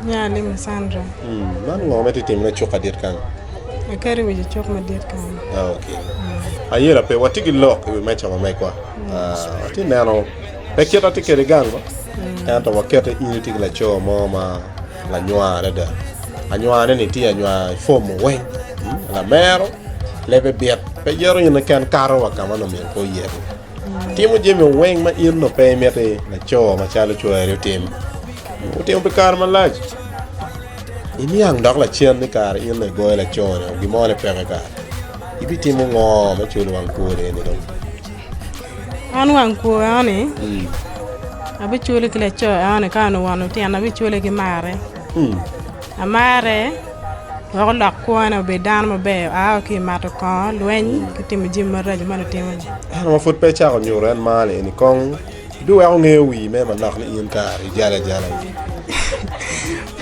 Nya ni me Sandra. Man ngo ma itye timone cuk adit kany? Aketo wic i cuk madit kany. Ah, ok. Ayela pe, watye ki lok i wi meca wa megwa. Atye ah, neno pe kit atye kede gang ma. Mm. Ento wakete in itye ki laco mo ma lanywa adada. Anywane ni tye anywa i fom weng. Hmm, lamero, lebe bit, pe yero in ken kato wa ka ma nomyero pe oyerni. Timo jami weng ma in onongo pe imiti laco macalo cwari otim otimo pi kare malac. Iniang dok lacen ni kara in dong igoyo laco-ni gin mo ni peke kara. Ibitimo ngo me culo wang kwo deni dong? An wang kwo enoni abicule ki laco enoni ka en owono tyena abicule ki marre. Amarre wek olok kwona obed dano maber. Aa ki i mato kongo, lweny, ki timo jami maraco ma lutimo-ni. Ento ma pud pe icako nyuto en mar lieni kong, ibiweko ngeyo wii me manok ni in kare ijalo ajala-ni.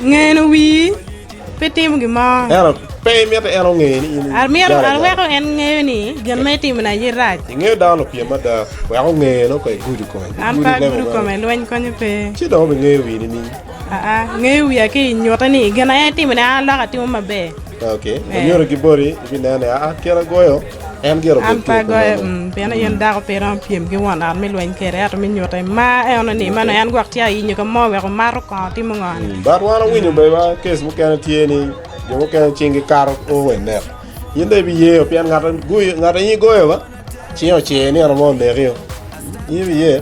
Ngeno wii pe timo gin mo. Ento pe imito en onge ni in ijalo ajala. Aweko en ngeyo ni gin ma itimoni aye rac. Ingeyo dano opyem mada, wek onge nongo ka igudo kome. An pe agudo kome, lweny konyo pe. Ci dong obingeyo wii nining? Aa, ngeyo wiya ki i nyute ni i gin aye itimo ni aa lok atimo maber. Ok, wanyuto ki boti ibineno ni aa kit agoyo en gire obedo ki oku mene. Mm, pien aye dako pe iromo pyem ki won ot me lweny kede, ento me nyute mar eno ni mano en gwok tye ayinyo ka mo wek omato kongo timo ngo ni. Mm, But wan awinyo bene wa kes mukene tye ni jo mukene cing gi kato o we neko. In dong ibiyeyo pien ngat agoyo, ngat aye igoyo ba, cing ocer nino mo onekio. In ibiye.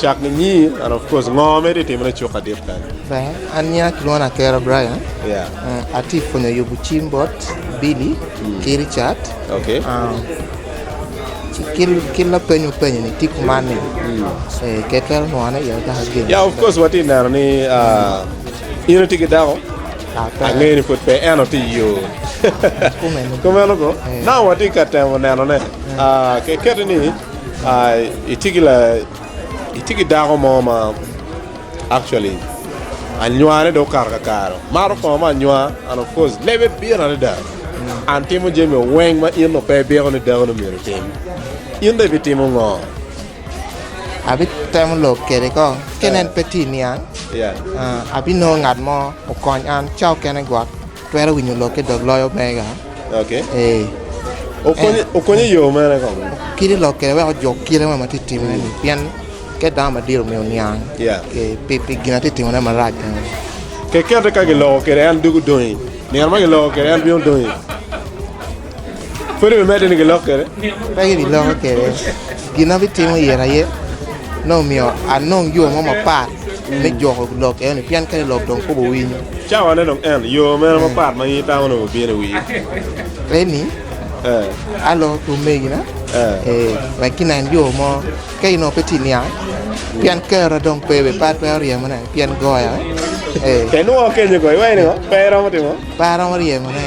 Cak ninyii and of course ngo ma itye ka timone cuk adit kany? Ber an nyinga kilwongo ni Atera Brian atye ka pwonyo yubo cim bot Billy ki Richard ki lapeny mupenyo ni tye kuman ni ker twero nwoane iye dok agen ya of course watye ka neno ni in itye ki dako angeyo ni pud pe ento tye i yo kumeno kong now watye ka temo nenone keketi ni Itye ki la itye ki dako mo ma actually anywane dong okato kakare mato kongo ma anywa and of course lebe pire adada and timo jami weng ma in dong pe ibiko ni dakoni myero otim in dong ibitimo ngo? Abitemo lok kwede ko kene en pe tye i niang abinongo ngat mo okony an ca okene gwok. Twero winyo lok ki dog loyo mega. Okonyo i yo mene kong? Kite lok kede wek ojuk kite mo ma ti timone ni pien ket dano madit omiyo niang pi gin ati timone marac eni. Kekete ka giloko kede en doko dongi, nino ma giloko kede en bino dongi. Pe gibiloko kwede. Gin ma bitimo iye aye nongo omiyo anong yo mo mapat me juko lok eno-ni pien kadi lok dong kop owinyo. Leni aloko ki omegina wek ginen yo mo ka in onongo pe itye ka niang pien kero dong pe bene pe atwero ryemone pien goya pe aromo ryemone.